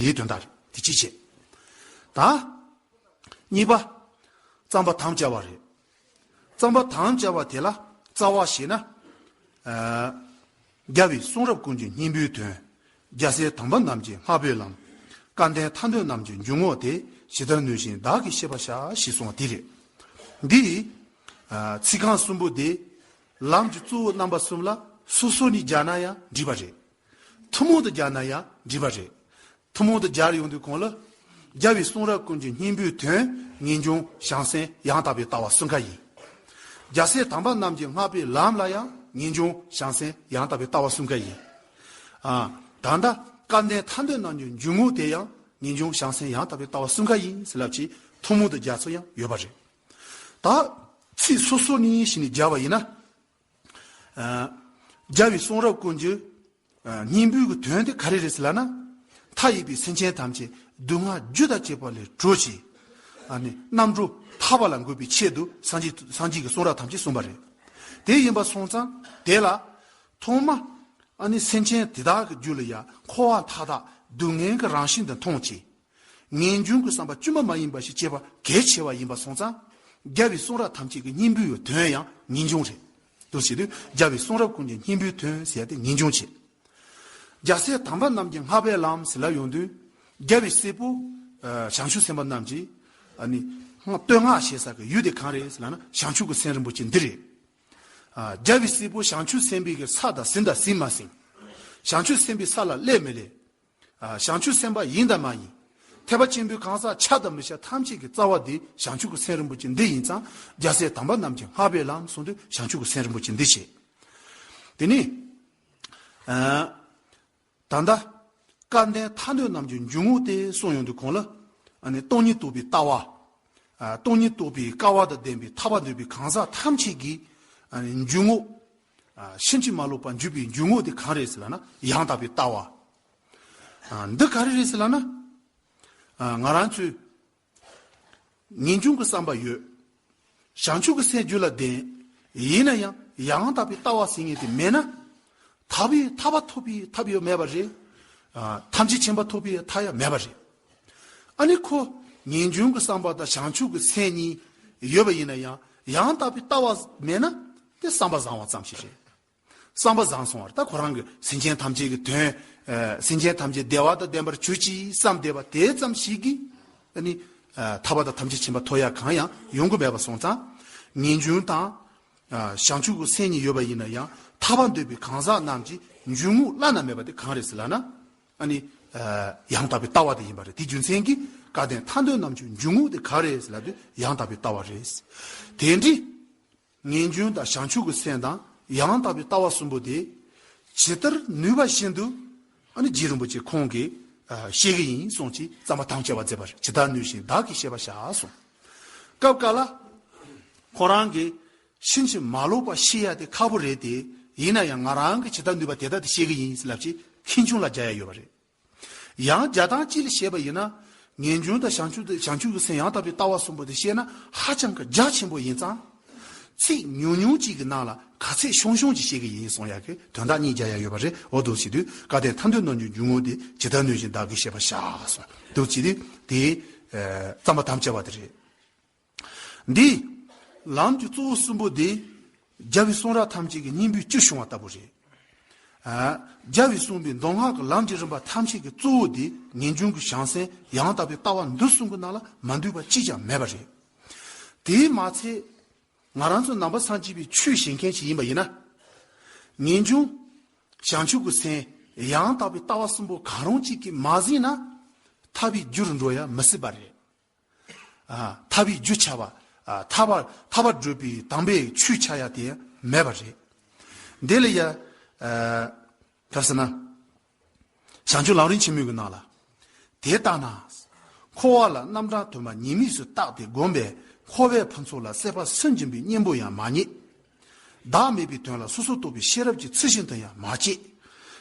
དེའི་དོན་དག་རེད་དེ་ཅིའི་ཕྱིར་དང། གཉིས་པ། རྩམ་པ་དམ་བཅའ་བ་རེད། རྩམ་པ་དམ་བཅའ་བ་དེ་ལ་རྩ་བ་ཞེས་ན། རྒྱ་བའི་གསུང་རབ་ཀུན་གྱི་སྙིང་པོའི་དོན། རྒྱལ་སྲས་དམ་པ་རྣམས་ཀྱི་ལྷ་བོའི་ལམ། སྐལ་ལྡན་མཐའ་འདུལ་རྣམས་ཀྱི་འཇུག་ངོགས་དེ་ཇི་ལྟར་ནུས་བཞིན་བདག་གིས་ཤེས་པར་བྱ་ཞེས་གསུང་བ་དེ་རེད། འདིར། ཚིག་རྐང་གསུམ་པོ་དེས། ལམ་གྱི་གཙོ་བོ་རྣམ་པ་གསུམ་ལ་སོ་སོར་ནི་སྦྱར་ན་ཡང་འགྲིག་པ་རེད། ཐུན་མོང་དུ་སྦྱར་ན་ཡང་འགྲིག་པ་རེད། ཐུན་མོང་དུ་སྦྱར་ཡོང་དུས་གོང་ལ་སྦྱར་བའི་གསུང་རབ་ཀུན་གྱི་སྙིང་པོའི་དོན་ངེས་འབྱུང་བྱང་སེམས་ཡང་དག་པའི་ལྟ་བ་གསུང་ཁ་ཡིན། རྒྱལ་སྲས་དམ་པ་རྣམས་ཀྱི་བསྔགས་པའི་ལམ་ལ་ཡང་ངེས་འབྱུང་བྱང་སེམས་ཡང་དག་པའི་ལྟ་བ་གསུང་ཁ་ཡིན། ད་ལྟ་སྐལ་ལྡན་ཐར་འདོད་རྣམས་ཀྱི་འཇུག་ངོགས་དེ་ཡང་ངེས་འབྱུང་བྱང་སེམས་ཡང་དག་པའི་ལྟ་བ་གསུང་ཁ་ཡིན་ཟེར་ལབ་ཀྱིས་ཐུན་མོང་དུ་སྦྱར་ཚུལ་ཡང་ཡོད་པ་རེད། ད། ཚིག་སོ་སོ་ནས་ཞིག་ནས་སྦྱར་བ་ཡིན་ན། རྒྱལ་བའི་གསུང་རབ་ཀུན་གྱི་སྙིང་པོའི་གི་དོན་དེ་ག་རེ་རེད་ཟེར་ལ་ན། མཐའ་ཡས་པའི་སེམས་ཅན་ཐམས་ཅད་སྡུག་བསྔལ་རྒྱུ་དང་བཅས་པ་ལས་གྲོལ་ཞིང། རྣམ་གྲོལ་ཐར་བ་ལ་འགོད་པའི་ཆེད་དུ་སངས་རྒྱས་ཀྱི་གསུང་རབ་ཐམས་ཅད་གསུངས་པ་རེད། དེ་ཡིན་པར་སོང་ཙང་དེ་ལ། ཐོག་མ། སེམས་ཅན་དེ་དག་གི་རྒྱུད་ལ་ཡང་འཁོར་བ་མཐའ་དག་སྡུག་བསྔལ་གྱི་རང་བཞིན་དུ་མཐོང་བྱེད། ངེས་འབྱུང་གི་བསམ་པ་དཀྱུས་མ་མ་ཡིན་པ་ཞིག་སྐྱེས་པ་གལ་ཆེ་བ་ཡིན་པ་སོང་ཙང། རྒྱལ་བའི་གསུང་རབ་ཐམས་ཅད་ཀྱི་སྙིང་པོའི་ཡོད་དོན་ཡང་ངེས་འབྱུང་རེད། དུ་བྱེད་དུས་རྒྱལ་བའི་གསུང་རབ་ཀུན་གྱི་སྙིང་པོའི་དོན་ཟེར་ཏེ་ངེས་འབྱུང་བྱེད། རྒྱལ་སྲས་དམ་པ་རྣམས་ཀྱི་སྔགས་པའི་ལམ་ཟེར་ལ་ཡོང་དུས། རྒྱལ་བའི་སྲས་པོ། བྱང་ཆུབ་སེམས་དཔའ་རྣམས་ཀྱིས། བསྟོད་བསྔགས་བྱེད་ས་ཀྱི་ཡུལ་དེ་གང་རེད་ཟེར་ལ་ན་བྱང་ཆུབ་ཀྱི་སེམས་རིན་པོ་ཆེ་འདི་རེད། རྒྱལ་བའི་སྲས་པོ་བྱང་ཆུབ་སེམས་དཔས་ཀྱི་ས་དང་ཟིན་དང་ཟིན་མ་ཟིན། བྱང་ཆུབ་སེམས་དཔའི་ས་ལ་སླེབས་མི་སླེབས། བྱང་ཆུབ་སེམས་དཔའ་ཡིན་དམ་མ་ཡིན། ཐེག་པ་ཆེན་པོའི་གང་ཟག་ཆགས་དང་མི་ཆགས་ཐམས་ཅད་ཀྱི་རྩ་བ་འདི་བྱང་ཆུབ་ཀྱི་སེམས་རིན་པོ་ཆེ་འདི་ཡིན་ཙང་རྒྱལ་སྲས་དམ་པ་རྣམས་ཀྱིས་སྔགས་པས་ལམ་གསུངས་དུས་བྱང་ཆུབ་ཀྱི་སེམས་རིན་པོ་ཆེ་འདི་བྱས། དེ་ནས། ད་ལྟ། སྐལ་ལྡན་མཐའ་སྣོད་རྣམས་ཀྱི་འཇུག་ངོགས་ཏེ་གསུངས་ཡོང་དུས་གོང་ལ། སྟོང་ཉིད་རྟོགས་པའི་ལྟ་བ། སྟོང་ཉིད་རྟོགས་པའི་སྐལ་བ་དང་ལྡན་པའི་ཐར་བ་འདོད་པའི་གང་ཟག་ཐམས་ཅད་ཀྱི། འཇུག་ངོགས། ཕྱིན་ཅི་མ་ལོག་པར་འཇུག་པའི་འཇུག་ངོགས་དེ་གང་རེད་ཟེར་ལ་ན། ཡང་དག་པའི་ལྟ་བ། འདི་ག་རེ་རེད་ཟེར་ལ་ན། ང་རང་ཚོས་ངེས་འབྱུང་གི་བསམ་པ་ཡོད། བྱང་ཆུབ་ཀྱི་སེམས་རྒྱུད་ལ་ལྡན། ཡིན་ན་ཡང་ཡང་དག་པའི་ལྟ་བ་ཟེར་ངེས་དེ་མེད་ན། ཐར་བའི་ཐར་བ་ཐོབ་པའི་ཐབས་ཡང་མེད་པ་རེད། ཐམས་ཅད་མཁྱེན་པ་ཐོབ་པའི་མཐའ་ཡང་མེད་པ་རེད། ཨ་ནི་ཁོ་ངེས་འབྱུང་གི་བསམ་པ་དང་བྱང་ཆུབ་ཀྱི་སེམས་གཉིས་ཡོད་པ་ཡིན་ན་ཡང་ཡང་དག་པའི་ལྟ་བ་མེད་ན། དེ་བསམ་པ་བཟང་བ་ཙམ་ཞིག་རེད། བསམ་པ་བཟང་སོང་བར་ད་ཁོ་རང་གི་སེམས་ཅན་ཐམས་ཅད་ཀྱི་དོན། སེམས་ཅན་ཐམས་ཅད་བདེ་བ་དང་ལྡན་པར་བྱོས་ཅིག་བསམ་བསྡད་པ་དེ་ཙམ་ཞིག་གིས་ནི། ཐར་པ་དང་ཐམས་ཅད་བྱིན་པ་ཐོ་ཡག་གང་ཡང་ཡོང་གི་མེད་པ་སོང་ཙང། ངེས་འབྱུང་དང། བྱང་ཆུབ་ཀྱི་སེམས་གཉིས་ཡོད་པ་ཡིན་ན་ཡང་ཐར་པ་འདོད་པའི་གང་ཟག་རྣམས་ཀྱི་འཇུག་ངོགས་བླ་ན་མེད་པ་དེ་གང་རེད་ཟེར་ལགས་ན། ཡང་དག་པའི་ལྟ་བ་དེ་ཡིན་པ་རེད་དེ་རྒྱུ་མཚན་གྱིས་སྐལ་ལྡན་ཐར་འདོད་རྣམས་ཀྱི་འཇུག་ངོགས་དེ་གང་རེད་ཟེར་ལགས་དེ་ཡང་དག་པའི་ལྟ་བ་རེད། དེ་འདྲའི། ངན་སྐྱོན་དང་བྱང་ཆུབ་ཀྱི་སེམས་དང་ཡང་དག་པའི་ལྟ་བ་གསུམ་པོ་དེ་ཇི་ལྟར་ནུས་པ་བཞིན་དུ་རྗེ་རིན་པོ་ཆེ་ཁོང་གིས་ཤེས་ཀྱི་ཡིན་གསུངས་ཀྱིས་བརྩམས་པ་དམ་བཅའ་བ་མཛད་པ་ཇི་ལྟར་ནུས་བཞིན་བདག་གིས་བཤད་པར་བྱ་གསུངས། སྐབས་འགའ་ལ་ཁོ་རང་གིས་ཕྱིན་ཅི་མ་ལོག་པ་ཤེས་ཡ་དེ་ཁག་པོ་རེད་དེ་ཡིན་ན་ཡང་ང་རང་གིས་ཇི་ལྟར་ནུས་པ་དེ་ལྟར་དེ་ཤེས་ཀྱི་ཡིན་ཟེར་ལབ་ཀྱིས་ཁེངས་ཆུང་ལ་རྒྱ་ཡ་ཡོད་པ་རེད། ཡང་བརྒྱ་དང་གཅིག་ལ་ཤེས་པ་ཡིན་ན། ངེས་འབྱུང་དང་བྱང་ཆུབ་དང་བྱང་ཆུབ་ཀྱི་སེམས་ཡང་དག་པའི་ལྟ་བ་གསུམ་པོ་དེ་ཤེས་ན་ཧ་ཅང་གི་རྒྱ་ཆེན་པོ་ཡིན་ཙང། ཚིག་ཉུང་ཉུང་གཅིག་གི་ནང་ལ་ག་ཚད་ཤོང་ཤོང་ཅིག་བཤད་གི་ཡིན་གསུངས་ཡ་གི་དོན་དག་གཉིས་བརྒྱ་ཡ་ཡོད་པ་རེད་འོ་དུག་བྱེད་དུས་བཀའ་གཏེར་མཐའ་འདུལ་གནང་རྒྱུའི་འཇུག་ངོགས་དེ་ཇི་ལྟར་ནུས་བཞིན་བདག་གིས་བཤད་པར་བྱ་གསུངས་དུག་བྱེད་དུས་དེའི་བརྩམས་པ་དམ་བཅའ་བ་དེ་རེད། འདི། ལམ་གྱི་གཙོ་བོ་གསུམ་པོ་དེ། རྒྱལ་བའི་གསུང་རབ་ཐམས་ཅད་ཀྱི་སྙིང་པོའི་བཅུད་བྱུང་བ་ལྟ་བུ་རེད། རྒྱལ་བས་གསུངས་པའི་མདོ་སྔགས་ཀྱི་ལམ་གྱི་རིམ་པ་ཐམས་ཅད་ཀྱི་གཙོ་བོ་དེ་ངེས་འབྱུང་གི་བྱང་སེམས་ཡང་དག་པའི་ལྟ་བ་འདི་གསུམ་གྱི་ནང་ལ་མ་འདུས་པ་གཅིག་ཀྱང་མེད་པ་རེད། དེས་མ་ཚད། ང་རང་ཚོ་ནང་པ་སངས་རྒྱས་པའི་ཆོས་བྱེད་མཁན་ཞིག་ཡིན་པ་ཡིན་ན། ངེས་འབྱུང། བྱང་ཆུབ་ཀྱི་སེམས། ཡང་དག་པའི་ལྟ་བ་གསུམ་པོ་གང་རུང་གཅིག་གིས་མ་ཟིན་ན། ཐར་པའི་རྒྱུ་རུ་འགྲོ་ཡ་མི་སྲིད་པ་རེད། ཐར་བའི་རྒྱུ་བྱ་བ། ཐར་བ་བགྲོད་པའི་དམ་པའི་ཆོས་བྱ་ཡ་དེ་མེད་པ་རེད། དེ་ལ་ཡ། ག་ཟེར་ན། བྱང་ཆུབ་ལམ་རིན་ཆེན་མོད་ཀྱི་ནང་ལ། དེ་ལྟ་ན། འཁོར་བ་ལ་རྣམ་གྲངས་དུ་མ་ཉེས་དམིགས་སུ་བརྟགས་ཏེ་བསྒོམས་པས་འཁོར་བའི་ཕུན་ཚོགས་ལ་སྲེད་པ་སུན་འབྱིན་པའི་གཉེན་པོ་ཡང་མ་རྙེད། བདག་མེད་པའི་དོན་ལ་སོ་སོར་རྟོག་པའི་ཤེས་རབ་ཀྱིས་ཚུལ་བཞིན་དུ་ཡང་མ་སྐྱེས།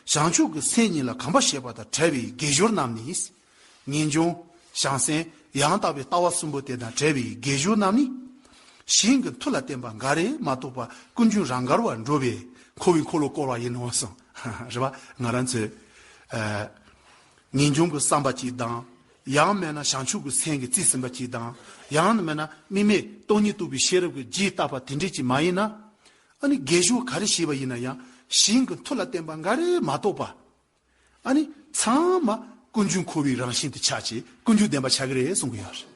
བྱང་ཆུབ་ཀྱི་སེམས་ཉིད་ལ་གང་བ་ཞེས་པ་དང་བྲལ་བའི་དགེ་སྦྱོར་རྣམས་ནི། ངེས་འབྱུང། བྱང་སེམས། ཡང་དག་པའི་ལྟ་བ་གསུམ་པོ་དེ་དང་བྲལ་བའི་དགེ་སྦྱོར་རྣམས་ནི། ཞིང་གི་མཐུ་ལ་བརྟེན་པ་འགའ་རེས་མ་གཏོགས་པ་ཀུན་རྒྱུན་རང་གར་བར་འགྲོ་བས་འཁོར་བའི་འཁོར་ལོ་བསྐོར་བ་ཡིན་ནོ་གསུངས། རེ་བ། ང་རང་ཚོས། ངེས་འབྱུང་གི་བསམ་པ་གཅིག་དང། ཡང་མེད་ན་བྱང་ཆུབ་ཀྱི་སེམས་ཀྱི་རྩིས་ཟིན་པ་གཅིག་དང། ཡང་ན་མེད་ན་དམིགས་མེད་སྟོང་ཉིད་རྟོགས་པའི་ཤེས་རབ་ཀྱི་རྗེས་བཏགས་པ་དེ་འདྲས་ཀྱིས་མ་ཡིན་ན། ཨ་ནི་དགེ་སྦྱོར་ག་རེ་བྱས་པ་ཡིན་ན་ཡང་ཞིང་གི་མཐུ་ལ་བརྟེན་པ་འགའ་རེ་མ་གཏོགས་པ། ཨ་ནི་ཚང་མ་ཀུན་འབྱུང་འཁོར་བའི་རང་བཞིན་དུ་ཆགས་ཀྱི་ཀུན་འབྱུང་བདེན་པ་ཆགས་ཀྱི་རེད་གསུང་གི་ཡོད་རེད།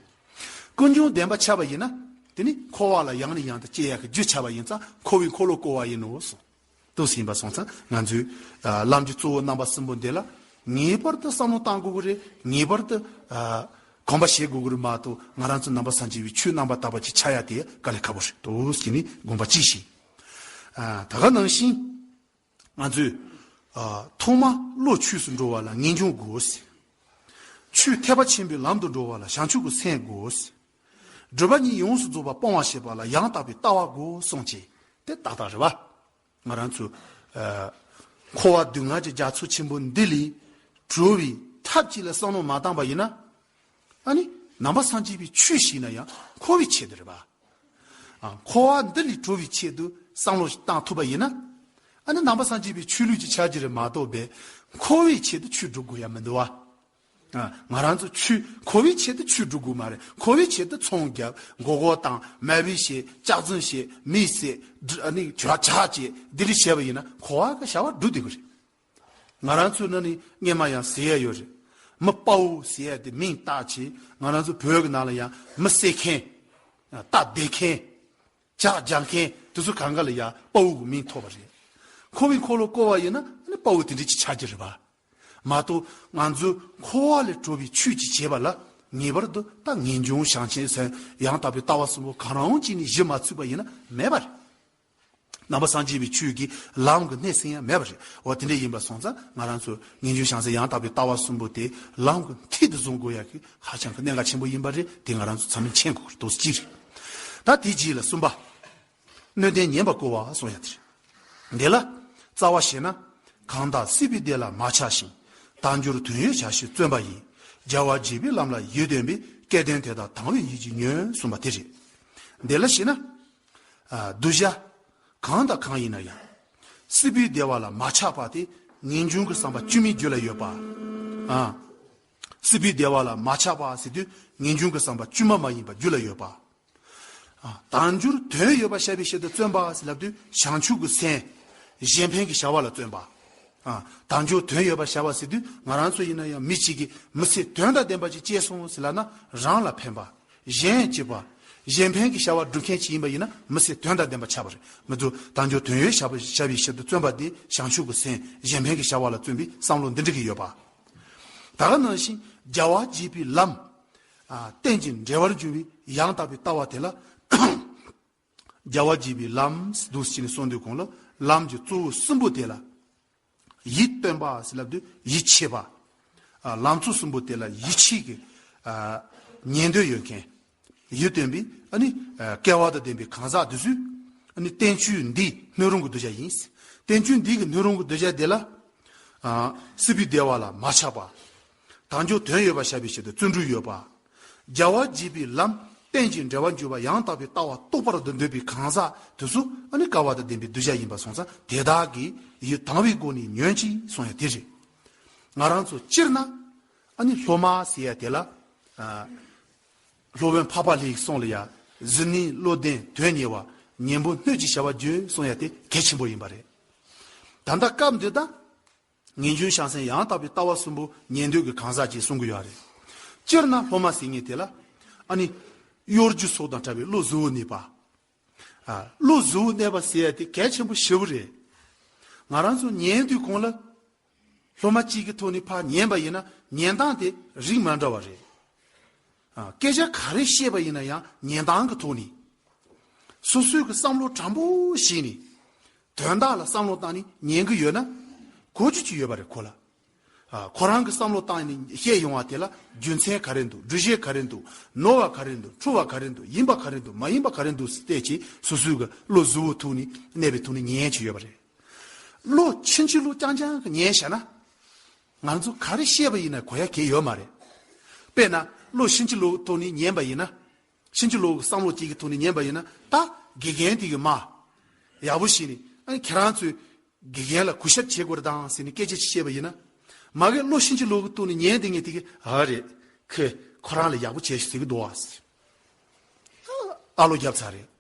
ཀུན་འབྱུང་བདེན་པ་ཆགས་པ་ཡིན་ན་དེ་ནི་འཁོར་བ་ལ་ཡང་ནས་ཡང་དུ་སྐྱེ་ཡག་གི་རྒྱུ་ཆགས་པ་ཡིན་ཙང་འཁོར་བའི་འཁོར་ལོ་བསྐོར་བ་ཡིན་ནོ་གསུང། ཏུ་ཟིན་པ་སོང་ཙང་ང་ཚོས། ལམ་གྱི་གཙོ་བོ་རྣམ་པ་གསུམ་པོ་འདི་ལ། ངེས་པར་དུ་བསམ་བློ་གཏང་དགོས་ཀྱི་རེད། ངེས་པར་དུ། གོམས་པ་བྱེད་དགོས་ཀྱི་རེད་མ་གཏོགས་ང་རང་ཚོ་རྣམ་པ་གསར་འབྱེད་པའི་ཆོས་རྣམ་པ་དག་པ་གྱི་ཆ་ཡ་དེ་ཡ་དཀའ་ལས་ཁ་པོ་རེད། དུ་ཟིན་ནས་དགོངས་པ་གཅིག་བཞེས། ད་ག་ནང་བཞིན། ང་ཚོས། ཐོག་མ་བློ་ཆོས་སུ་འགྲོ་བ་ལ་ངེས་འབྱུང་དགོས། ཆོས་ཐེག་པ་ཆེན་པོའི་ལམ་དུ་འགྲོ་བ་ལ་བྱང་ཆུབ་ཀྱི་སེམས་དགོས། སྒྲུབ་པ་ཉིད་ཡོངས་སུ་རྫོགས་པ་སྤོང་བར་བྱེད་པ་ལ་ཡང་དག་པའི་ལྟ་བ་དགོས་གསུངས་ཀྱི། དེ་ཏག་ཏག་རེད་བ། ང་རང་ཚོས། འཁོར་བ་སྡུག་བསྔལ་གྱི་རྒྱ་མཚོ་ཆེན་པོ་འདི་ལས་གྲོལ་བའི་ཐབས་ཅིག་ལ་བསམ་བློ་མ་བཏང་པ་ཡིན་ན། ཨ་ནི་ནང་པ་སངས་རྒྱས་པའི་ཆོས་ཤིག་ཡིན་ན་ཡང་འཁོར་བའི་ཆེད་དུ་རེད་བ། འཁོར་བ་འདི་ལས་གྲོལ་བའི་ཆེད་དུ་བསམ་བློ་ཞིག་བཏང་ཐུབ་པ་ཡིན་ན། ཨ་ནི་ནང་པ་སངས་རྒྱས་པའི་ཆོས་ལུགས་ཀྱི་ཆ་རྒྱུས་རེད་མ་གཏོགས་པའི་འཁོར་བའི་ཆེད་དུ་ཆོས་སྒྲུབ་དགོས་ཡ་མི་འདུག་བ། ང་རང་ཚོ་ཆུ་མཁོ་བའི་ཆེད་དུ་ཆུ་འབྲུ་དགོས་མ་རེད་མཁོ་བའི་ཆེད་དུ་ཚོང་རྒྱག་མགོ་སྐོར་བཏང་མལ་བུ་བྱས་ལྕགས་རྫུན་བྱས་མི་བསད་བྲག་ཆ་བྱས་དེ་རིགས་བྱས་པ་ཡིན་ན་མཁོ་བ་གི་བྱ་བ་འགྲུབ་བསྡད་པ་རེད། ང་རང་ཚོའི་ནང་ནས་རྔན་མ་ཡང་བཟས་ཡས་ཡོད་རེད། མི་དཔའ་བོ་བཟས་ཡས་དེ་མིང་བཏགས་ཆེད་ང་རང་ཚོའི་བོད་ཀྱི་ནང་ལ་ཡང་མི་བསད་མཁན། རྟ་བདས་མཁན། ལྕགས་རྒྱག་མཁན་དེ་ཚོ་གང་ག་ལ་ཡང་དཔའ་བོ་གི་མིང་ཐོགས་པ་རེད། མཁོ་བའི་འཁོར་ལོ་བསྐོར་བ་ཡིན་ན་དཔའ་བོ་དེ་འདྲས་ཀྱི་ཆ་རྒྱུ་རེད་བ། མ་གཏོགས་ང་ཚོས་འཁོར་བ་ལས་གྲོལ་བའི་ཆོས་ཀྱི་བྱེད་པ་ལ་ངེས་པར་དུ་ཏཱ་ངེས་འབྱུང་བྱང་ཆེན་ཟན་ཡང་དག་པའི་ལྟ་བ་གསུམ་པོ་གང་རུང་གཅིག་ནས་བཞི་མ་ཚུད་པ་ཡིན་ན་མེད་པ་རེད། རྣམ་པ་སངས་རྒྱས་པའི་ཆོས་ཀྱི་ལམ་གྱི་སྣེ་ཟིན་ཡང་མེད་པ་རེད། འོ་དེ་འདྲ་ཡིན་པར་སོང་ཙང་ང་རང་ཚོས་ངེས་འབྱུང་བྱང་ཟན་ཡང་དག་པའི་ལྟ་བ་གསུམ་པོ་དེ་ལམ་གྱི་མཐིལ་དུ་བཟུང་དགོས་ཡག་གི་ཧ་ཅང་གི་གནད་འགག་ཆེན་པོ་ཡིན་པ་རེད་དེ་ང་རང་ཚོས་ཚང་མས་མཁྱེན་དགོས་པ་རེད་དོགས་གཅིག་རེད། ད་དེ་རྗེས་ལ་གསུམ་པ། སྣོད་ལྡན་ཉན་པར་བསྐོ་བ་སོགས་ཡང་དེ་རེད། དེ་ལ་རྩ་བ་ཞེ་ན། གང་དག་སྲིད་པའི་སྡེ་ལ་མ་ཆགས་ཤིང། བདག་འགྱུར་དོན་ཡོད་བྱ་ཞིང་བརྩོན་པ་ཡིས། རྒྱལ་བ་རྗེས་པའི་ལམ་ལ་ཡིད་རྟོན་པའི། སྐལ་ལྡན་དེ་དག་དང་བའི་ཡིད་ཀྱིས་ཉོན། གསུངས་པ་དེ་རེད། དེ་ལ་ཞེ་ན། གདུལ་བྱ། གང་དང་གང་ཡིན་ན་ཡང། སྲིད་པའི་སྡེ་བ་ལ་མ་ཆགས་པ་སྟེ། ངེས་འབྱུང་གི་བསམ་པ་བཅོས་མིན་རྒྱུད་ལ་ཡོད་པ། སྲིད་པའི་སྡེ་བ་ལ་མ་ཆགས་པ་ཟེར་དུས་ངེས་འབྱུང་གི་བསམ་པ་བཅོས་མ་མ་ཡིན་པ་རྒྱུད་ལ་ཡོད་པ། དང་རྒྱུར་དོན་ཡོད་པར་བཤད་པའི་ཕྱིར་དུ་བརྩོན་པ་ཞེས་ལབ་དུས་བྱང་ཆུབ་ཀྱི་སེམས། གཞན་ཕན་གྱི་བྱ་བ་ལ་བརྩོན་པ། དང་རྒྱུར་དོན་ཡོད་པར་བྱ་བ་ཟེར་དུས་ང་རང་ཚོ་ཡིན་ན་ཡང་མི་གཅིག་གིས་མི་ཚེ་དོན་དང་ལྡན་པ་ཅིག་སྐྱེལ་སོང་ཟེར་ལབ་ན་རང་ལ་ཕན་པ། གཞན་གཅེས་པ། གཞན་ཕན་གྱི་བྱ་བ་སྒྲུབ་མཁན་ཞིག་ཡིན་པ་ཡིན་ན་མི་ཚེ་དོན་དང་ལྡན་པ་ཆགས་པ་རེད་མི་འདུག་དང་རྒྱུར་དོན་ཡོད་བྱ་བྱ་བའི་ཕྱིར་དུ་བརྩོན་པ་དེ་བྱང་ཆུབ་ཀྱི་སེམས་གཞན་ཕན་གྱི་བྱ་བ་ལ་བརྩོན་པའི་བསམ་བློ་འདི་འགྲིག་གི་ཡོད་པ། ད་ག་ནང་བཞིན་རྒྱལ་བ་བརྒྱད་པའི་ལམ། རྟེན་ཅིང་འབྲེལ་བར་འགྱུར་བའི་ཡང་དག་པའི་ལྟ་བ་དེ་ལ་རྒྱལ་བ་འཇིགས་པའི་ལམ་དུ་ཞེས་ནས་སོ་འདུས་གོང་ལ་ལམ་གྱི་གཙོ་བོ་གསུམ་པོ་དེ་ལ་ཡིད་རྟོན་པ་ཞེས་ལབ་དུས་ཡིད་ཆེས་པ། ལམ་གཙོ་གསུམ་པོ་དེ་ལ་ཡིད་ཆེས་ཀྱི་ཉན་འདོད་ཡོད་མཁན་ཡིད་རྟོན་པའི་སྐལ་བ་དང་ལྡན་པའི་གང་ཟག་དེ་ཚོས་བསྟན་བཅོས་འདི་སྣོད་རུང་གི་གདུལ་བྱ་ཡིན། བསྟན་བཅོས་འདི་གི་སྣོད་རུང་གི་གདུལ་བྱ་དེ་ལ་སྲིད་པའི་བདེ་བ་ལ་མ་ཆགས་པ། དང་འབྱོར་དོན་ཡོད་པར་བྱ་བའི་ཆེད་དུ་བརྩོན་འགྲུས་ཡོད་པ། བྱ་བ་བགྱིད་པའི་ལམ་རྟེན་ཅིང་འབྲེལ་བར་འགྱུར་བ་ཡང་དག་པའི་ལྟ་བ་རྟོགས་པར་འདོད་པའི་གང་ཟག་དུ་སུ་ཨ་ནི་དཀར་བ་དང་ལྡན་པའི་གདུལ་བྱ་ཡིན་པར་སོང་ཙང་དེ་དག་གི་ཡུལ་དང་བའི་སྒོ་ནས་ཉོན་ཅིག་སོང་ཡང་དེ་རེད། ང་རང་ཚོ་སྤྱིར་ན་ཨ་ནི་སློབ་མ་ཟེར་ཡ་དེ་ལ་སློབ་དཔོན་འཕགས་པ་ལེགས་སོང་ལ་ཡ་གཟུ་ནི་བློ་ལྡན་དོན་གཉེར་བ་ཉན་པོ་སྣོད་ཀྱི་བྱ་བ་བརྒྱུད་སོང་ཡ་དེ་གལ་ཆེན་པོ་ཡིན་པ་རེད། ད་ལྟ་སྐབས་འདི་དང། ངན་ཇུའི་ཤ་གསེང་ཡང་དག་པའི་ལྟ་བ་གསུམ་པོ་ཉན་འདོད་ཀྱི་གང་ཟག་གཅིག་གསུང་གི་ཡོད་རེད། སྤྱིར་ན་སློབ་མ་ཟེར་ངེས་དེ་ལ། ཨ་ནི། གཡོ་སྒྱུ་སོགས་དང་བྲལ་བའི་བློ་གཟུ་བོ་གནས་པ། བློ་གཟུ་བོ་གནས་པ་ཟེར་ཡ་དེ་གལ་ཆེན་པོ་ཞེ་བོ་རེད། ང་རང་ཚོ་ཉན་དུས་གོང་ལ། སློབ་མ་གཅིག་གི་ཐོག་ནས་ཕར་ཉན་པ་ཡིན་ན་ཉན་སྟངས་དེ་རིགས་མ་འདྲ་བ་རེད། སྐད་ཆ་ག་རེ་བཤད་པ་ཡིན་ན་ཡང་ཉན་སྟངས་ཀྱི་ཐོག་ནས། སོ་སོས་ཀྱི་བསམ་བློ་དྲང་པོ་བཞེས་ནས། དོན་དག་ལ་བསམ་བློ་བཏང་ནས་ཉན་གྱི་ཡོད་ན། གོ་རྒྱུ་གཅིག་ཡོད་པ་རེད་གོ་ལ། ཁོ་རང་གིས་བསམ་བློ་བཏང་ནས་བཤད་ཡོང་བ་དེ་ལ་རྒྱུ་མཚན་ག་རེ་འདུག་འབྲུ་གཞས་ག་རེ་འདུག་ནོར་བ་ག་རེ་འདུག་འཁྲུལ་བ་ག་རེ་འདུག་ཡིན་པ་ག་རེ་འདུག་མ་ཡིན་པ་ག་རེ་འདུག་བལྟས་ཀྱིན་སོ་སོའི་ཀྱི་བློ་གཟུ་བོའི་ཐུགས་ནས་གནས་པའི་ཐུགས་ནས་ཉན་གྱི་ཡོད་པ་རེད། བློ་ཕྱིན་ཅི་ལོག་རྐྱང་རྐྱང་གིས་ཉན་བྱས་ན། ང་ཚོ་ག་རེ་ཤེས་པ་ཡིན་ན་གོ་ཡ་གས་ཡོད་མ་རེད། དཔེར་ན་བློ་གཤིན་རྗེ་ལུགས་ཐོག་ནས་ཉན་པ་ཡིན་ན། གཤིན་རྗེ་ལུགས་ཀྱི་བསམ་བློ་ཅིག་གི་ཐོག་ནས་ཉན་པ་ཡིན་ན་ད་དགེ་རྒན་དེ་གི་མ། ཡག་པོ་ཞིག་ནས་ཁྱེད་རང་ཚོས་དགེ་རྒན་ལ་གུས་ཞབས་བྱེད་དགོས་རེད་ད་ཟེར་ནས་སྐད་ཆ་ཅིག་བཤད་པ་ཡིན་ན། མ་གས་བློ་གཤིན་རྗེ་ལུགས་ཀྱི་ཐོག་ནས་ཉན་དེ་ངས་དེ་གི་ཨ་རེད་ཁོས་ཁོ་རང་ལ་ཡག་པོ་བྱས་ཞེས་ཟེར་གི་འདུག་ཨ། ཨ་བློ་རྒྱབ་ཚར་རེད།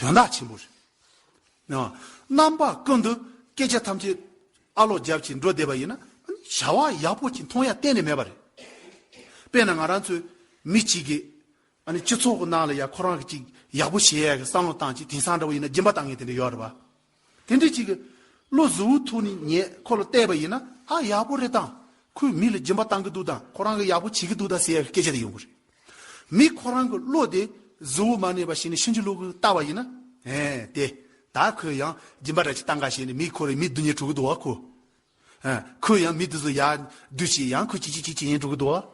དོན་དག་ཆེན་པོ་རེད། རྣམ་པ་ཀུན་ཏུ་སྐད་ཆ་ཐམས་ཅད་ཨ་ལོག་རྒྱབ་ཀྱིས་འགྲོ་བསྡད་པ་ཡིན་ན་བྱ་བ་ཡག་པོ་ཅིག་མཐོང་ཡ་གཏན་ནས་མེད་པ་རེད། དཔེར་ན་ང་རང་ཚོའི་མི་གཅིག་གིས་སྤྱི་ཚོགས་ཀྱི་ནང་ལ་ཡ་ཁོ་རང་གིས་ཅིག་ཡག་པོ་བྱེད་ཡ་གི་བསམ་བློ་བཏང་ཅིག་དེང་སང་འདྲ་བོ་ཡིན་ན་སྦྱིན་པ་བཏང་ངེས་དེ་འདྲ་ཡོད་རེད་བ། དེ་འདྲའི་གཅིག་གི། བློ་གཟུ་བོའི་ཐུགས་ནི་ངས་ཁོ་ལ་བལྟས་པ་ཡིན་ན་ཨ་ཡག་པོ་རེད་དང། ཁོས་མི་ལ་སྦྱིན་པ་གཏང་གི་འདུག་དང་ཁོ་རང་གིས་ཡག་པོ་བྱེད་ཀྱི་འདུག་དང་ཟེར་ཡག་གི་སྐད་ཆ་དེ་ཡོང་གི་རེད། མི་ཁོ་རང་གི་བློ་དེ་གཟུ་བོ་མ་ནས་པ་ཞིག་ནས་ཕྱིན་ཅི་ལོག་གིས་ལྟ་བ་ཡིན་ན། ཨེ། དེ། ད་ཁོས་ཡང་སྦྱིན་པ་འདྲ་ཅིག་གཏང་ག་བྱས་ནས་མི་ཁོ་རེ་མི་བསྡུ་ཉེ་དྲུག་གི་འདུག་ཨ་ཁོ། ཁོས་ཡང་མི་དེ་ཚོ་ཡར་བསྡུས་ཤིག་ཡང་ཁུ་ཅི་ཅི་ཅི་ཅི་ཡིན་འགྲོ་གི་འདུག་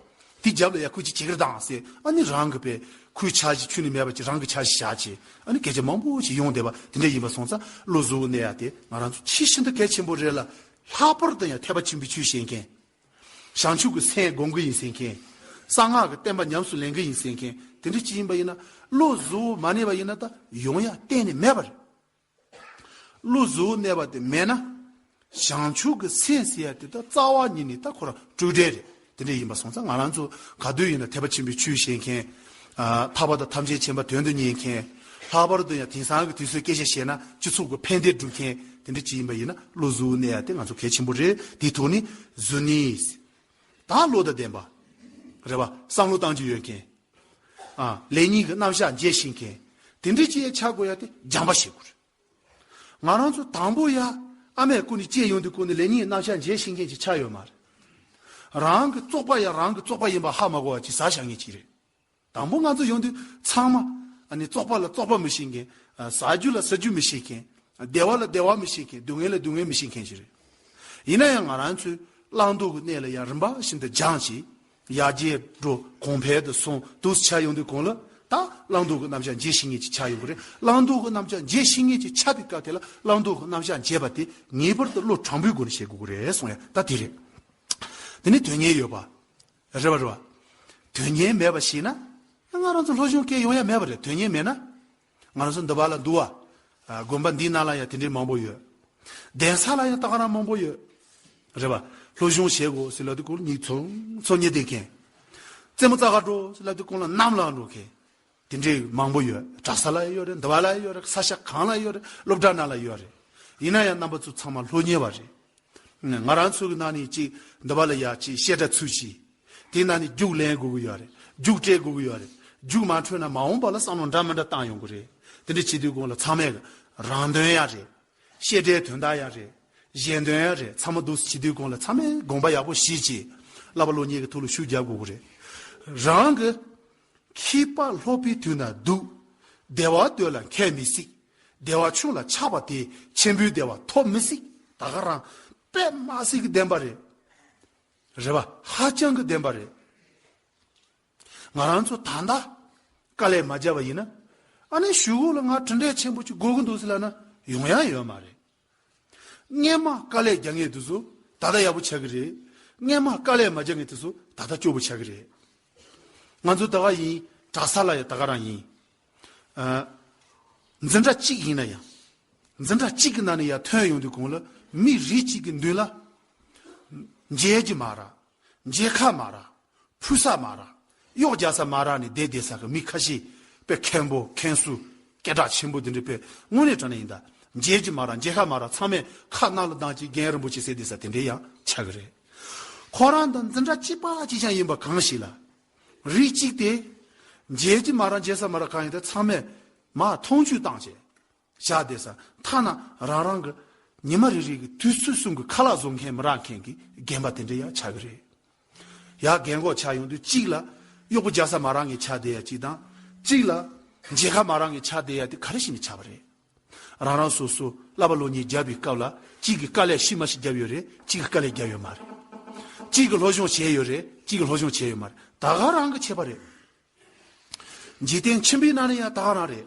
དེ་རྒྱབ་ལ་ཡང་ཁུ་ཅི་ཅི་ཀིར་དང་ཟེར་ཨ་ནི་རང་གི་པའི་ཁུ་ཆ་ཞིག་ཁྱུ་ནས་མེད་པ་ཅིག་རང་གི་ཆ་ཞིག་བཞག་ཅིག་ཨ་ནི་སྐད་ཆ་མང་པོ་ཞིག་ཡོང་བསྡད་པ་དེ་འདྲ་ཡིན་པ་སོང་ཙང་བློ་གཟུ་བོ་གནས་ཡ་དེ་ང་རང་ཚོ་ཕྱི་ཤིན་ཏུ་གལ་ཆེན་པོ་རེད་ལ་ལྷག་པར་དུ་ཡང་ཐེག་པ་ཆེན་པོའི་ཆོས་བཤད་མཁན། བྱང་ཆུབ་ཀྱི་སེམས་སྒོམ་གི་ཡིན་ཟེར་མཁན། གསང་སྔགས་ཀྱི་བསྟན་པ་ཉམས་སུ་ལེན་གི་ཡིན་ཟེར་མཁན་དེ་འདྲ་ཅིག་ཡིན་པ་ཡིན་ན་བློ་གཟུ་བོ་མ་གནས་པ་ཡིན་ན་ད་ཡོང་ཡ་གཏན་ནས་མེད་པ་རེད། ཀླུ་གཟུགས་གནས་པ་དེ་མེད་ན། བྱང་ཆུབ་ཀྱི་སེམས་ཟེར་ཡ་དེ་ད་རྩ་བ་ཉིད་ནས་ད་ཁོ་རང་སྤྲོས་བྲལ་རེད་དེ་འདྲ་ཡིན་པ་སོང་ཙང་ང་རང་ཚོ་ག་དུས་ཡིན་ན་ཐེག་པ་ཆེན་པོའི་ཆོས་བཤད་མཁན། ཐར་པ་དང་ཐམས་ཅད་མཁྱེན་པ་དོན་དུ་གཉེར་མཁན། ལྷག་པར་དུ་ཡང་དེང་སང་གི་དུས་སུ་སྐད་ཆ་བཤད་ན་སྤྱི་ཚོགས་ཀྱི་ཕན་བདེ་སྒྲུབ་མཁན་དེ་འདྲ་ཅིག་ཡིན་པ་ཡིན་ན་ཀླུ་གཟུགས་གནས་ཡ་དེ་ང་ཚོ་གལ་ཆེན་པོ་རེད་དེའི་ཐོག་ནས་གཟུར་གནས། དང་བློ་དང་ལྡན་པ། རེ་བ། བསམ་བློ་གཏང་རྒྱུ་ཡོད་མཁན། ལས་གཉིས་ཀྱི་རྣམ་གཞག་མཇལ་ཤེས་མཁན། དེ་འདྲའི་སྤྱི་ཡས་ཆགས་དགོས་ཡ་དེ་སྦྱང་པ་བྱེད་དགོས། ང་རང་ཚོ་དང་པོ་ཡ་ཨ་མས་སྐུ་ནས་སྐྱེས་ཡོང་དུས་སྐུ་ནས་ལས་གཉིས་ཀྱི་རྣམ་གཞག་མཇལ་ཤེས་མཁན་ཞིག་ཆགས་ཡོད་མ་རེད། རང་གི་བཙོག་པ་ཡ་རང་གི་བཙོག་པ་ཡིན་པ་ཧ་མ་གོ་བ་ཅིག་བཟའ་བཞག་ངེས་ཅིག་རེད། དང་པོ་ང་ཚོ་ཡོང་དུས་ཚང་མ། བཙོག་པ་ལ་བཙོག་པ་མི་བྱེད་མཁན། ཟ་རྒྱུ་ལ་ཟ་རྒྱུ་མི་བྱེད་མཁན། བདེ་བ་ལ་བདེ་བ་མི་བྱེད་མཁན་སྡུག་བསྔལ་ལ་སྡུག་བསྔལ་མི་བྱེད་མཁན་ཞིག་རེད། ཡིན་ན་ཡང་ང་རང་ཚོའི་བླང་དོར་གྱི་གནས་ལ་ཡང་རིམ་པ་བཞིན་དུ་སྦྱངས་ཤིང། ཡར་རྒྱས་འགྲོ་གོང་འཕེལ་དུ་སོང་དུས་སུ་ཆ་ཡོང་དུས་གང་ལ་ད་བླང་དོར་གྱི་རྣམ་གཞག་འབྱེད་ཤེས་ངེས་ཀྱི་ཆ་ཡོང་གི་རེད། བླང་དོར་གྱི་རྣམ་གཞག་འབྱེད་ཤེས་ངེས་ཀྱི་ཆ་དེ་སྐབས་དེ་ལ་བླང་དོར་གྱི་རྣམ་གཞག་འབྱེད་པ་དེ་ངེས་པར་དུ་བློ་དྲང་པོའི་སྒོ་ནས་བྱེད་དགོས་ཀྱི་རེད་གསུངས་ཡ་ད་དེ་རེད། དེ་ནི་དོན་གཉེར་ཡོད་པ། རེད་པ་རེད་པ། དོན་སྙིང་མེད་པ་ཞིག་ན། ང་རང་ཚོ་ལྷོ་གཞུང་སྐད་ཡོང་ཡ་མེད་པ་རེད་དོན་སྙིང་མེད་ན། ང་རང་ཚོ་འདི་བ་ལ་འདུ་བ། དགོན་པ་འདིའི་ནང་ལ་ཡང་དེ་འདྲའི་མང་པོ་ཡོད། གདན་ས་ལ་ཡང་སྟག་ར་མང་པོ་ཡོད། རེད་པ། ལྷོ་གཞུང་ཞེས་དགོས་སི་ལ་དེ་ཀོ་ལ་ཉིག་ཚོ་ཚོ་ཉི་ལྡེ་མཁན། རྩེ་མོ་རྩ་ཁ་འགྲོ་སི་ལ་དེ་ཀོ་ལ་གནམ་ལ་འགྲོ་མཁན། དེ་འདྲའི་མང་པོ་ཡོད་གྲྭ་ས་ལ་ཡོད་རེད་འདི་བ་ལ་ཡོད་རེད་ས་ཞ་གང་ལ་ཡོད་རེད་སློབ་གྲྭ་ན་ལ་ཡོད་རེད་ཡིན་ན་ཡང་རྣམ་པ་ཚོ་ཚང་མ་ལྷོ་གཉེར་བ་རེད་ང་རང་ཚོ་གི་ནང་ནས་ཅིག་འདི་བ་ལ་ཡ་ཅིག་བཤད་གྲྭ་ཚུལ་གྱིས་དེ་ནང་ནས་རྒྱུགས་ལེན་དགོས་གི་ཡོད་རེད་རྒྱུགས་སྤྲད་དགོས་གི་ཡོད་རེད་རྒྱུགས་མ་འཕྲོད་ན་མ་འོངས་པ་ལ་བསམ་བློ་འདྲ་མི་འདྲ་བཏང་ཡོང་གི་རེད་དེ་འདྲ་བྱེད་དུས་གོང་ལ་ཚང་མས་གི་རང་དོན་ཡག་རེད་བཤད་གྲྭའི་དོན་དག་ཡག་རེད་གཞན་དོན་ཡག་རེད་ཚང་མ་སྡུག་བྱེད་དུས་གོང་ལ་ཚང་མས་དགོངས་པ་ཡག་པོ་བཞེས་ཅིག་བསླབ་པ་བློ་ཉེས་ཀི་ཐུགས་ལ་ཤུགས་རྒྱབ་དགོས་གི་རེད་རང་གི། ཁྱི་དཔའ་ལྷོ་པའི་དུས་ན་འདུག། བདེ་བ་འདོད་ལ་མཁས་མི་སྲིད། བདེ་བ་ཆུང་ལ་ཆགས་པ་དེས་ཆེན་པོའི་བདེ་བ་ཐོབ་མི་སྲིད། ད་ག་རང་པདྨ་སྲས་ཀྱི་བདེན་པ་རེད། རེད་པ་ཧ་ཅང་གི་བདེན་པ་རེད། ང་རང་ཚོ་ད་ལྟ་དཀའ་ལས་མ་བརྒྱབ་པ་ཡིན་ན། ཨ་ནེ་ཞུ་གོ་ལ་ང་གྲུ་འབྲས་ཆེན་པོ་གཅིག་དགོས་ཀྱི་འདུག་ཟེར་ལ་ན་ཡོང་ཡ་ཡོད་མ་རེད། སྔས་མ་དཀའ་ལས་རྒྱག་ངེས་དུས་སུ་ད་ལྟ་ཡག་པོ་ཆགས་ཀྱི་རེད། སྔས་མ་དཀའ་ལས་མ་རྒྱག་ངེས་དུས་སུ་ད་ལྟ་སྐྱོ་པོ་ཆགས་ཀྱི་རེད། ང་ཚོ་ད་ག་ཡིན་གྲགས་ས་ལ་ཡང་ད་ག་རང་ཡིན། འཛིན་གྲྭ་གཅིག་ཡིན་ན་ཡང། འཛིན་གྲྭ་གཅིག་གི་ནང་ནས་ཡར་ཐོན་ཡོང་དུས་གོང་ལ་མི་རིགས་གཅིག་གི་མདུན་ལ་མཇལ་གྱི་མ་རག། མཇལ་ཁ་མ་རག། ཕུལ་ས་མ་རག། གཡོག་རྒྱག་ས་མ་རག་ནས་བསྡད་བསྡད་ས་གི་མི་ཁ་ཤས་པས་མཁན་པོ་མཁན་སུ། སྐད་གྲགས་ཆེན་པོ་འདི་འདྲི་པས་དངོས་གནས་དྲ་ནས་ཡིན་ད། མཇལ་གྱི་མ་རག་མཇལ་ཁ་མ་རག་ཚང་མས་ཁ་སྣ་ལ་གདངས་ཀྱིས་རྒན་རིན་པོ་ཆེ་ཟེར་བསྡད་ས་དེ་འདྲས་ཡང་ཆགས་གི་རེད། ཁོ་རང་དང་འཛིན་གྲྭ་གཅིག་པ་གཅིག་ཆང་ཡིན་པ་གང་ཞིག་ལ། རིགས་གཅིག་སྟེ། མཇལ་གྱི་མ་རག་མཇལ་ས་མ་རག་གང་ཡིན་ད་ཚང་མས་མ་མཐོང་ཆུས་བཏང་བྱས། བཞག་བསྡད་ས་མཐའ་ན་རང་རང་གི་ཉི་མ་རེ་རེ་གི་དུས་ཚོད་གསུམ་གི་ཁ་ལག་བཟོ་མཁན་མི་རག་མཁན་གི་རྒན་པ་དེ་འདྲས་ཡང་ཆགས་གི་རེད་ཡ། རྒན་གོག་ཆགས་ཡོང་དུས་གཅིག་ལ་གཡོག་པོ་རྒྱག་ས་མ་རང་གིས་ཆགས་བསྡད་ཡ་གཅིག་དང། གཅིག་ལ་མཇལ་ཁ་མ་རང་གིས་ཆགས་བསྡད་ཡ་དེ་ག་རེ་བྱས་ནས་ཆགས་པ་རེད། རང་རང་སོ་སོ་གླ་པ་ལོ་གཉིས་བརྒྱབ་པའི་སྐབས་ལ་གཅིག་གིས་དཀའ་ལས་ཤི་མ་ཤི་བརྒྱབ་ཡོད་རེད་གཅིག་གིས་དཀའ་ལས་བརྒྱབ་ཡོད་མ་རེད། གཅིག་གིས་ལྷོ་གཞུང་བྱས་ཡོད་རེད་གཅིག་གིས་ལྷོ་གཞུང་བྱས་ཡོད་མ་རེད་ད་ག་རང་གིས་བྱས་པ་རེད། འཇིག་རྟེན་ཆེན་པོའི་ནང་ནས་ཡང་ད་ག་རང་རེད།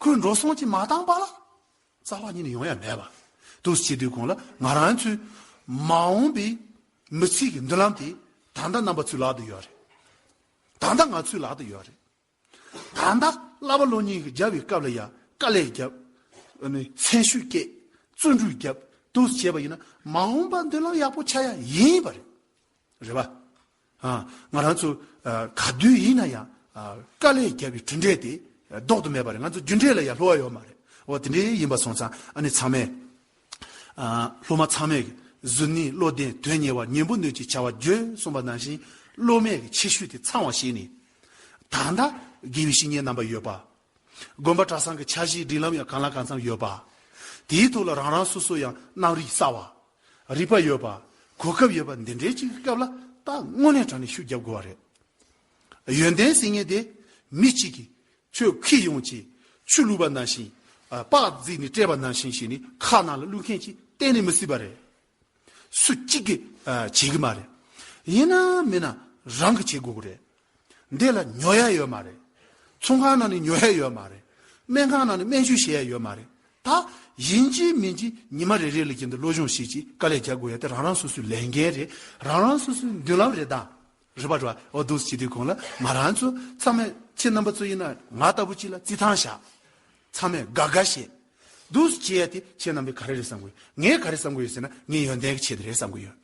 ཁོས་འགྲོ་སོང་ཅི་མ་བཏང་པ་ལ་རྩ་བ་ཉིད་ནས་ཡོང་ཡ་མེད་པ་དུས་ཕྱིས་དུས་གོང་ལ་ང་རང་ཚོའི་མ་འོངས་པའི་མི་ཚེ་གི་མདུན་ལམ་དེ་ད་ལྟ་རྣམ་པ་ཚོའི་ལག་ཏུ་ཡོད་རེད། ད་ལྟ་ང་ཚོའི་ལག་ཏུ་ཡོད་རེད། ད་ལྟ་གླ་པ་གློ་སྙིང་རྒྱབ་པའི་སྐབས་ལ་ཡང་དཀའ་ལས་རྒྱབ། མཚན་ཤུགས་བསྐྱེད། བརྩོན་འགྲུས་རྒྱབ་དུས་བྱས་པ་ཡིན་ན་མ་འོངས་པ་མདུན་ལམ་ཡག་པོ་ཆགས་ཡ་ཡིན་པ་རེད། རེད་པ། ང་རང་ཚོ་ག་དུས་ཡིན་ན་ཡང་དཀའ་ལས་བརྒྱབ་པའི་གྲུ་འདེགས་དེ་ལྡོག་ཏུ་མེད་པ་རེད་ང་ཚོ་རྒྱུ་འབྲས་ལ་ཡང་ལྷོ་བ་ཡོད་མ་རེད་འོ་དེ་འདྲའི་ཡིན་པ་སོང་ཙང་ཨ་ནི་ཚང་མས་སློབ་མ་ཚང་མས་གཟུར་གནས་བློ་ལྡན་དོན་གཉེར་བ་ཉན་པོ་ནུས་ཀྱི་བྱ་བ་བརྒྱུད་གསུངས་པ་ནང་བཞིན་སློབ་མའི་ཆེ་ཤོས་དེ་ཚང་བ་ཞིག་ནི་ད་ལྟ་དགེ་བའི་བཤེས་གཉེན་རྣམ་པ་ཡོད་པ་དགོན་པ་གྲྭ་ཚང་གི་འཆར་གཞིའི་སྒྲིག་ལམ་ཡང་གང་ལ་གང་འཚམ་ཡོད་པ། དེའི་ཐོག་ལ་རང་རང་སོ་སོ་ཡང་རྣམ་རིག་གསར་བ། རིག་པ་ཡོད་པ། གོ་སྐབས་ཡོད་པ་འདི་འདྲའི་ཅིག་གི་སྐབས་ལ་ད་དངོས་གནས་དྲང་ནས་ཤུགས་བརྒྱབ་དགོས་བ་རེད། ཡོན་ཏན་ཟེར་ངེས་དེ་མི་གཅིག་གིས་ཆོས་ཁུལ་ཡོངས་ཀྱི་ཆུ་བླུད་པ་ནང་བཞིན། པགས་བརྫིས་ནས་བཀྲེས་པ་ནང་བཞིན་ཞིག་ནི་ཁ་ནང་ལ་བླུད་མཁན་གྱིས་གཏན་ནས་མི་སྲིད་པ་རེད། སུ་གཅིག་གིས་བྱེད་ཀྱི་མ་རེད། ཡིན་ན་མིན་ན་རང་གིས་བྱེད་དགོས་ཀྱི་རེད། འདི་ལ་ཉོ་ཡ་ཡོད་མ་རེད། ཚོང་ཁང་ནང་ནས་ཉོ་ཡ་ཡོད་མ་རེད། སྨན་ཁང་ནང་ནས་སྨན་བཅོས་བྱེད་ཡ་ཡོད་མ་རེད། ད་ཡིན་གཅིག་མིན་གཅིག་ཉི་མ་རེ་རེ་ལ་གྱེན་དུ་བློ་སྦྱོང་ཞིག་ཅིག་དཀའ་ལས་རྒྱག་དགོས་ཡ་དེ་རང་རང་སོ་སོའི་ལས་འགན་རེད། རང་རང་སོ་སོའི་མདུན་ལམ་རེད་ད། རེ་བ་རོའོ་བསྡུ་བྱེད་དུས་གོང་ལ་ང་རང་ཚོ་ཚང་མས་ཁྱེད་རྣམ་པ་ཚོ་ཡིན་ན་ང་ལྟ་བུ་ཅིག་ལ་རྩིས་ཐང་བཞག་ཚང་མས་དགའ་དགའ་བྱེད། བསྡུ་བྱེད་ཡ་དེ་ཁྱེད་རྣམ་པས་ག་རེ་རེད་བསམ་གི་ཡོད་ངས་ག་རེ་བསམ་གི་ཡོད་ཟེར་ན་ངའི་ཡོན་ཏན་གྱི་ཆེད་དུ་རེད་བསམ་གི་ཡོད།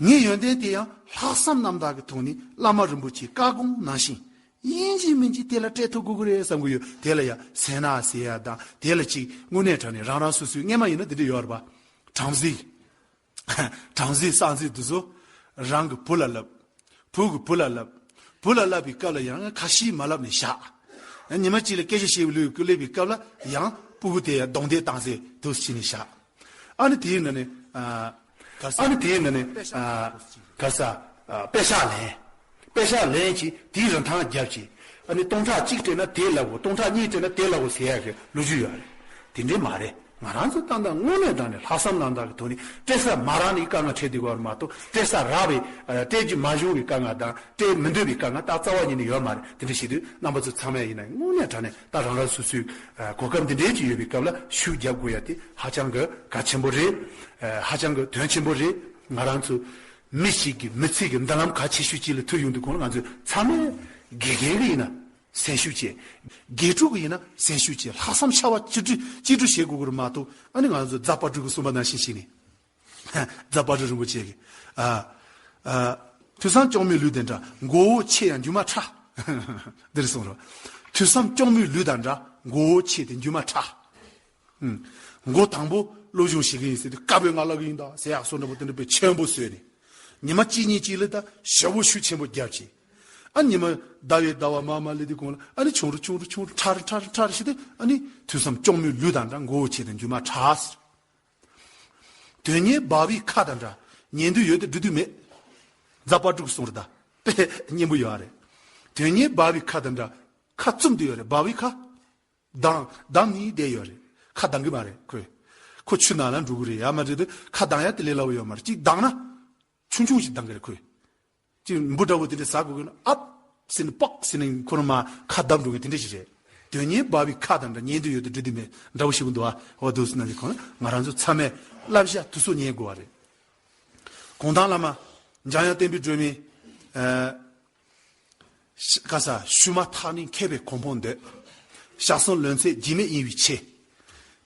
ངའི་ཡོན་ཏན་དེ་ཡང་ལྷག་བསམ་རྣམ་དག་གི་ཐོག་ནས་བླ་མ་རིན་པོ་ཆེའི་བཀའ་དགོངས་ནང་བཞིན་ཡིན་གྱི་མིན་གྱི་དེ་ལ་སྤྲད་ཐུབ་དགོས་གི་རེད་བསམ་གི་ཡོད་དེ་ལ་ཡ་ཟེར་ན་ཟེར་ཡ་དང་དེ་ལ་ཅིག་དངོས་གནས་དྲན་ནས་རང་རང་སོ་སོའི་རྔན་མ་ཡིན་ན་དེ་འདྲ་ཡོད་རེད་པ། དྲང་གཟིགས། བྲམ་ཟེའི་གསང་མཚན་འདི་ཚོ་རང་གི་བུ་ལ་བསླབ། བུ་གི་བུ་ལ་བསླབ། བུ་ལ་བསླབ་པའི་སྐབས་ལ་ཡང་ཁ་ཞེས་མ་བསླབ་ནས་བཞག། ཉི་མ་གཅིག་ལ་སྐད་ཆ་བཤད་པའི་ལུས་བསླེབ་པའི་སྐབས་ལ་ཡང་སྤུ་གུ་དེ་གདོང་དེ་བཏང་ཚེ་དུ་ཕྱིན་ནས་བཞག། ཨ་ནི་དེའི་ནང་ནས། ཨ་ནི་དེའི་ནང་ནས། གར་ས། པད་ཤག་ལན། པད་ཤག་ལན་ཅིག་དེའི་རིན་ཐང་བརྒྱ་བྱས། ཨ་ནི་སྟོང་ཕྲག་གཅིག་སྤྲད་ན་དེ་ལ་བོ་སྟོང་ཕྲག་གཉིས་སྤྲད་ན་དེ་ལ་བོ་ཟེར་ཡག་གི་ལོ་རྒྱུས་ཡོད་རེད། དེ་འདྲའི་མ་རེད། ང་རང་ཚོ་ཏང་དང་དངོས་གནས་དང་ནི་ལྷག་བསམ་རང་དང་གི་ཐོག་ནས་སྤྲད་ས་མ་རང་ནི་དཀའ་ངལ་འཕྲད་དུས་བར་མ་གཏོགས་སྤྲད་ས་རག་བའི་སྤྲད་རྒྱུ་མ་བྱུང་བའི་དཀའ་ངལ་དང་སྤྲད་མི་འདོད་པའི་དཀའ་ངལ་ཏག་རྩ་བ་ཉིད་ནས་ཡོད་མ་རེད་དེ་འདྲ་བྱེད་དུས་རྣམ་པ་ཚོ་ཚང་མས་ཡིན་ན་དངོས་གནས་དྲ་ནས་ཏག་རང་རང་སོ་སོའི་གོ་སྐབས་འདི་འདྲའི་ཅིག་ཡོད་པའི་སྐབས་ལ་ཤུགས་རྒྱབ་དགོས་ཡ་དེ་ཧ་ཅང་གི་གལ་ཆེན་པོ་རེད། ཧ་ཅང་གི་དོན་ཆེན་པོ་རེད། ང་རང་ཚོ་མི་ཞིག་གིས་མི་ཚེ་གི་མདུན་ལམ་ག་ཆེ་ཤོས་ཅིག་ལ་ཐུག་ཡོང་དུས་གོང་ལ་ང་ཚོས་ཚང་མས་དགེ་རྒན་གྱི་ཡིན་ན་གཟན་ཤུགས་ཆེ། དགེ་ཕྲུག་གི་ཡིན་ན་གཟན་ཤུགས་ཆེ་ལྷག་བསམ་ཕྱར་བ་གཅིག་སྒྲིལ་གཅིག་སྒྲིལ་བྱེད་དགོས་ཀྱི་རེད་མ་གཏོགས་ཨ་ནི་ང་ཚོ་རྫ་དཔའ་སྤྲུལ་གྱི་གསུངས་པ་ནང་བཞིན་བྱས་ནས་རྫ་དཔའ་སྤྲུལ་རིན་པོ་ཆེ་གིས་ཨ་ཨ། ཐོས་བསམ་སྐྱོང་མོའི་ལུས་དེ་འདྲ་མགོ་བོ་ཆེ་ཡང་འགྱུར་མ་ཁྲ། འདིར་གསུངས་རོགས། ཐོས་བསམ་སྐྱོང་མོའི་ལུས་དང་འདྲ་མགོ་བོ་ཆེ་དེ་འགྱུར་མ་ཁྲ། མགོ་དང་པོ་བློ་གཞུང་བྱེད་མཁན་ཡིན་ཟེར་དུས་དཀར་པོའི་ང་ལ་གི་ཡིན་ད་ཟེར་ཡག་སོ་འདྲ་པོ་དེ་འདྲ་པོའི་ཆེན་པོ་བཟོས་ནས་ཉི་མ་གཅིག་གཉིས་གཅིག་ལ་ད་ཞབས་བོ་ཤུ་ཆེན་པོ་རྒྱབ་ཅིག་ཨ་ཉི་མ་ཟླ་བའི་ཟླ་བ་མ་མ་ལི་དི་གོང་ལ་ཨ་ནི་ཆུང་རུ་ཆུང་རུ་ཆུང་རུ་ཁྲ་རུ་ཁྲ་རུ་ཁྲ་རུ་བྱས་ཏེ་ཨ་ནི་དུས་སམ་ལྕོང་མོའི་ལུས་དང་འདྲ་མགོ་བོ་ཆེ་དང་རྒྱུ་མ་ཁྲ་ཟེར་དོན་གཉེར་སྦ་བའི་ཁ་དང་འདྲ་ཉན་དུས་ཡོད་དེ་འབྲི་དུས་མེད་རྫ་སྤར་དྲུག་གསུང་རུ་ད་པས་སྙན་པོ་ཡོད་རེད་དོན་གཉེར་སྦ་བའི་ཁ་དང་འདྲ་ཁ་བཙུམ་དུ་ཡོད་རེད་སྦ་བའི་ཁ། གདང། གདང་ནི་བསྡད་ཡོད་རེད། ཁ་གདང་གི་མ་རེད་ཁོས། ཁོ་ཆུ་ནང་ལ་འགྲོ་གི་རེད་ཡ་མ་འདྲེ་དེ་ཁ་གདང་ཡ་དེ་ལས་སླ་བོ་ཡོད་མ་རེད་གཅིག་གདང་ན། ཆུང་ཆུང་ཞིག་གདང་གི་རེད་ཁོས། གཅིག་འབུ་འདྲ་བོ་དེ་འདྲས་ཟ་དགོས་གི་ན་ཨབ། ཟེར་ནས་པགས་ཟེར་ནས་ཁོ་རང་མ་ཁ་གདང་འགྲོ་གི་དེ་འདྲས་ཞིག་རེད། དོན་གཉེར་འབའ་བའི་ཁ་དང་འདྲ་ཉན་དུ་ཡོད་དུ་འགྲོ་དུས་མེད་འདྲ་བོ་ཞིག་གོ་འདུག་ཨ་བ་དུས་ནང་གི་ཁོ་ན་ང་རང་ཚོ་ཚང་མས་བསླབ་བྱ་དུ་སོ་ཉན་དགོས་བ་རེད། གུང་ཐང་བླ་མ། འཇམ་དབྱངས་བསྟན་པའི་སྒྲོན་མེ། བཀའ་ཟ་ཞུས་མ་ཐག་ནི་མཁས་པའི་གོ་འཕོང་འདོད། ཞག་གསུམ་ལོན་ཚད་འཇིགས་མེད་གཡེང་བའི་ཆེ།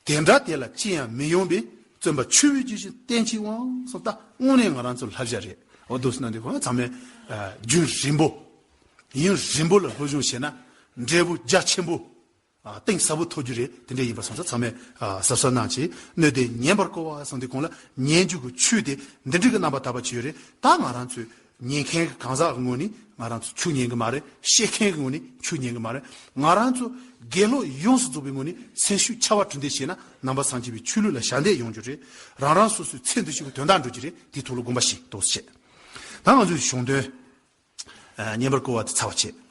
དེ་འདྲ་དེ་ལ་ཅི་ཡང་མི་ཡོང་པའི་བརྩོན་པ་ཆུ་བོའི་རྒྱུན་བཞིན་བརྟན་ཅིག་འོང་སོང་ལྟ་དངོས་གནས་ང་རང་ཚོ་ལྷ་བཞག་རེད་འོ་དུ་སྣ་འདི་གོ་ཚང་མས་རྒྱུན་རིང་པོ། ཡུན་རིང་པོ་ལ་སློབ་སྦྱོང་བྱས་ན་འབྲས་བུ་རྒྱ་ཆེན་པོ། གཏིང་ཟབ་པོ་ཐོབ་རྒྱུ་རེད་དེ་འདྲས་ཡིན་པར་སོང་ས་ཚང་མས་གཟབ་གཟབ་གནང་ཆེད་སྣོད་དེ་ཉན་པར་བསྐོ་བ་སོང་དེ་གོང་ལ་ཉན་རྒྱུ་གི་ཆུ་དེ་འདི་འདྲིས་གི་རྣམ་པ་དག་པ་བྱས་ཡོད་རེད་ད་ང་རང་ཚོས་ཉན་མཁན་གི་གང་ཟག་གི་ངོས་ནས་ང་རང་ཚོས་ཆུ་ཉན་གི་མ་རེད་བཤད་མཁན་གི་ངོས་ནས་ཆུ་ཉན་གི་མ་རེད་ང་རང་ཚོ་དགེ་སློབ་ཡོངས་སུ་རྫོགས་པའི་ངོས་ནས་མཚན་ཤུགས་ཆ་བ་གྲུ་འདེགས་བྱས་ན་ནང་པ་སངས་རྒྱས་པའི་ཆོས་ལུགས་ལ་ཞག་འདེགས་ཡོང་རྒྱུ་རེད་རང་རང་སོ་སོས་ཚེ་འདི་ཕྱི་གི་དོན་དག་འགྲོ་རྒྱུ་རེད་དེའི་ཐོག་ལ་དགོངས་པ་ཞིག་གཏོགས་སུ་བྱས་ད་ང་ཚོས་གཞུང་དོན་ཉན་པར་བསྐོ་བ་དེ་ཚར་བ་བྱས།